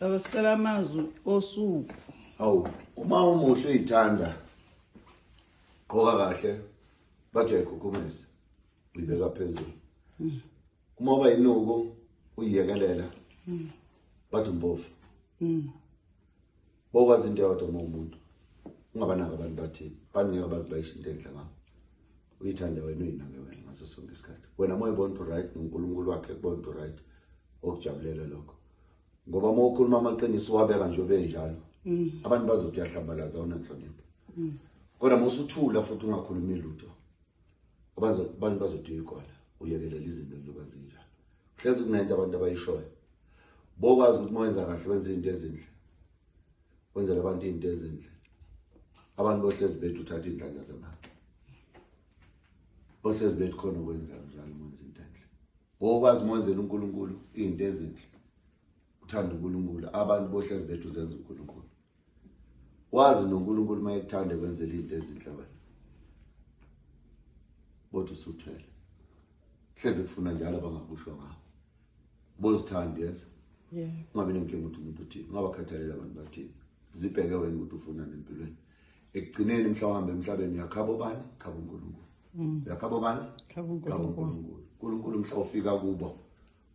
Baba sicela amazwi osuku. Hawu, uma umuhle uyithanda. Gqoka kahle. Bathi uyayikhukhumeza. Uyibeka phezulu. Hmm. Uma uba inuku uyiyekelela. Hmm. Bathi umbovu. Hmm. Bokwazi into yodwa uma umuntu. Ungabanaka abantu bathini. Bangeke bazibashe into enhle ngakho. Uyithande wena uyinake wena ngaso sonke isikhathi. Wena moya ubona right noNkulunkulu wakhe kubona right. Okujabulela lokho. ngoba uma ukhuluma amaqiniso wabeka nje benjalo mm. abantu bazothi uyahlambalaza unenhlonipho mm. kodwa uma usuthula futhi ungakhulumi lutho abantu bazothi uyikona uyekelela izinto njengoba zinjalo hlezi kunento abantu abayishoyo bokwazi ukuthi uma wenza kahle wenza izinto ezinhle wenzela abantu izinto ezinhle abantu bohlezi bethu uthatha iy'nhlanya zemali bohlezi bethu khona ukwenza njalo uma wenza into enhle Ngokwazi mwenzel uNkulunkulu into ezinhle. Uthanda uNkulunkulu, abantu bohlezi bethu zenza uNkulunkulu. Wazi noNkulunkulu mayekuthanda kwenzela into ezinhle wena. Bothi usuthwele. Hlezi kufuna njalo abangakusho ngakho. Bozithanda yes. Yeah. Ungabe nenkinga ukuthi umuntu uthini, ungabakhathalela abantu bathini. Zibheke wena ukuthi ufunani empilweni. ekugcineni mhla uhamba emhlabeni uyakhaba obani khaba unkulunkulu mm. uyakhaba obani khaba unkulunkulu unkulunkulu mhla ufika kubo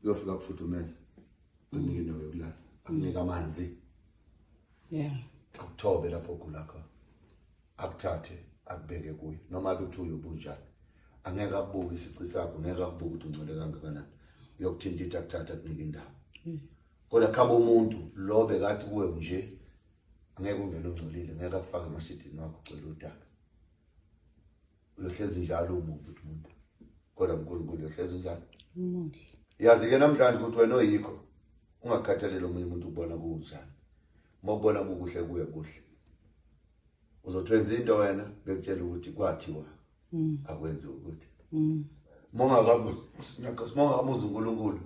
uyofika kufudumeza akunike indawo yokulala akunike amanzi yeah akuthobe lapho ogula khona akuthathe akubeke kuye noma ukuthi uyobunjani angeke akubuke isici sakho ngeke akubuke ukuthi ungcole kangakanani uyokuthinta ithi akuthatha akunike indawo mm. kodwa khaba umuntu lo bekathi kuwe nje angeke ungene ungcolile ngeke akufake emashidini wakho ucela udaka uyohlezi njalo umubi ukuthi umuntu kodwa unkulunkulu uyohlezi njalo umuhle yazi-ke namhlanje ukuthi wena oyikho ungakhathaleli omunye umuntu ukubona kunjani uma ubona kukuhle kuye kuhle uzothi wenza into wena bekutshela ukuthi kwathiwa mm. akwenziwa ukuthi mm. mongakamuzi unkulunkulu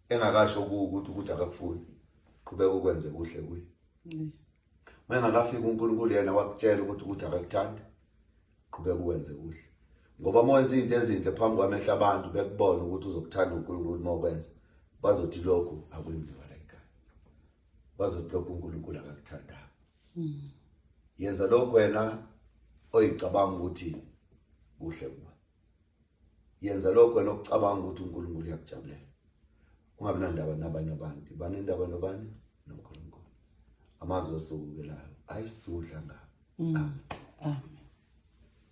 engakasho kuwe ukuthi ukuthi akakufuni qhubeka ukwenze kuhle kuye mengakafika uNkulunkulu yena wakutshela ukuthi ukuthi akakuthanda qhubeka ukwenze kuhle ngoba uma wenza izinto ezinhle phambi kwamehla abantu bekubona ukuthi uzokuthanda uNkulunkulu uma ukwenza bazothi lokhu akwenziwa la ekhaya bazothi lokhu uNkulunkulu akakuthandanga hmm. yenza lokho wena oyicabanga ukuthi kuhle kuwe yenza lokho wena okucabanga ukuthi uNkulunkulu uyakujabulela ungabi nandaba nabanye abantu banendaba nobani noNkulunkulu amazwi osukukelayo ayisidudla ngabo mm. amen